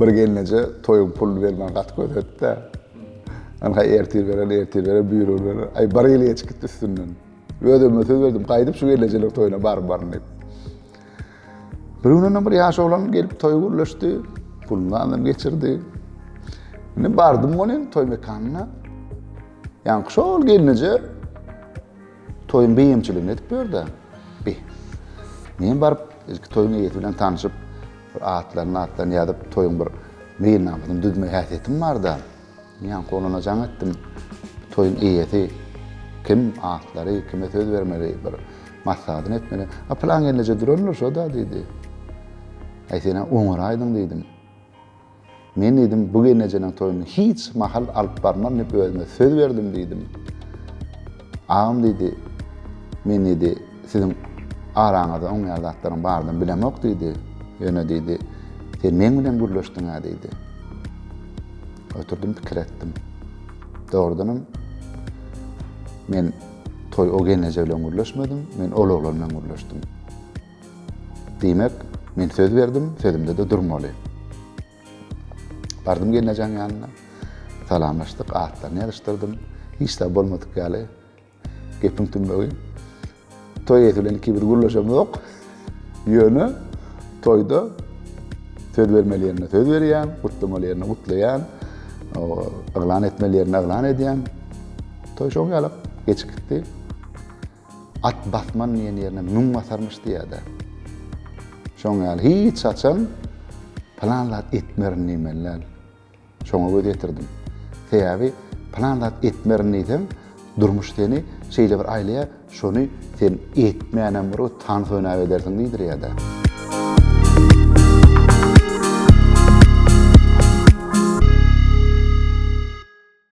Bir gelneje toýuň puluny bermän gaty közetdi-de. Anha ertir beren, ertir beren, büýrüň beren. Aý, bir ýyl geçip gitdi üstünden. Özüme söz berdim, gaýdyp şu gelnejeleriň toýuna baryp baryn diýip. Bir gün ondan bir ýaş oglan gelip toýy gürleşdi. Puluny aldy, geçirdi. Indi bardym men toý mekanyna. Ýaňky şol gelneje Toýuň beýemçiligini edip ber-de, bi. Men baryp, ilki toýuň eýesi bilen tanşyp, bir atlaryny-matlaryny ýazyp, toýuň bir meýilnamasyny düzme häsiýetim bar-da, ýaňky oglana jaň etdim. Bu toýuň eýesi kim, atlary, kime söz bermeli, bir maslahatyny etmeli. A pylan gelneje durandyr şo-da, diýdi. Aý, sen-ä oňaraýdyň, diýdim. Men diýdim, bu gelnejeniň toýuny hiç mahal alyp barman diýip özüme söz berdim diýdim. Agam diýdi, men diýdi, siziň araňyzda oňýar zatlaryň baryny bilemok diýdi. Ýöne diýdi, sen meň bilen gürleşdiň-ä diýdi. Oturdym pikir etdim. Dogrudanam men toý o gelneje bilen gürleşmedim, men ol oglan bilen gürleşdim. Diýmek, men söz berdim, sözümde-de durmaly. Bardym gelnejeň ýanyna. Salamlaşdyk, atlaryny ýazyşdyrdym. Hiç zat bolmadyk ýaly gepiň tümlegi. Toý eýesi bilen ikimiz gürleşemzok. Ýöne toýda söz bermeli ýerine söz berýän, gutlamaly ýerine gutlaýan, yglan etmeli ýerine yglan edýän. Toý şoň ýaly geçip gitdi. At basman diýen ýerine müň basarmyş diýýärdi. Şoň ýaly hiç haçan pylan zat etmerin diýmeli däl. Şoňa göz ýetirdim. Sebäbi pylan zat etmerin diýseň, durmuş seni şeýle bir aýlaýar, şony sen etmänem bir tans oýnap edersiň diýdirýär-de.